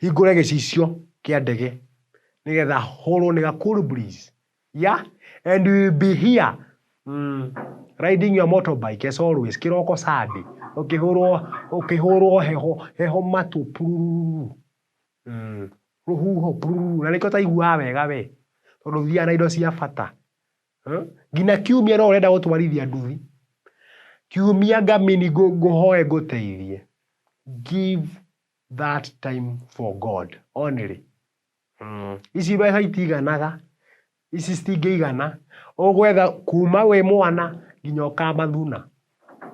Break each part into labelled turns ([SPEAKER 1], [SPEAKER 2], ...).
[SPEAKER 1] hingũre gĩcicio kĩa ndege nĩgetha hũrwo nĩ ga cool breeze yeah and we will be here mm, riding your motorbike as always kĩroko sande ũkĩhũrwo ũkĩhũrwo heho heho matũ pururu mm, rũhuho pururu na nĩkĩo taiguaga wega we tondũ thiaga na indo cia bata Eh? nginya kiumia no ũrenda gũtwarithia nduthi kiumia ngamini ngũ- ngũhoe ngũteithie give that time for God only mm. ici mbeca itiganaga ici citingĩigana ũgwetha kuma wĩ mwana nginya ũkamathuna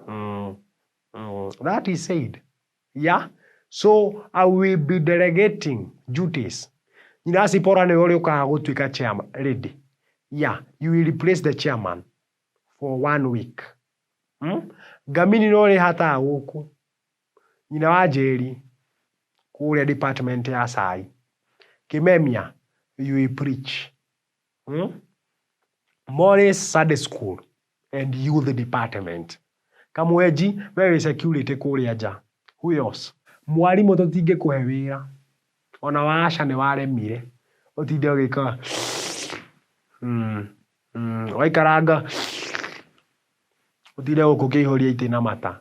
[SPEAKER 1] mm. mm. that is said yeah so I will be delegating duties nyinasi pora nĩ ũrĩ ũkaga gũtuĩka chairman lady yeah you will replace the chairman for one week mm? ngamini no rĩ hataga gũkũ Nyina wa Njeri, kũrĩa department ya cai. Kĩmemia, you will preach. Morris Sunday school and youth department. Kamwenji, we wĩ security kũrĩa nja. Who else? Mwarimũ tũtingĩkũhe wĩra, ona wa aca nĩ waremire, ũtinde ũgĩkaga ũgaikaranga ũtinde gũkũ ũkĩihũria itĩ na mata.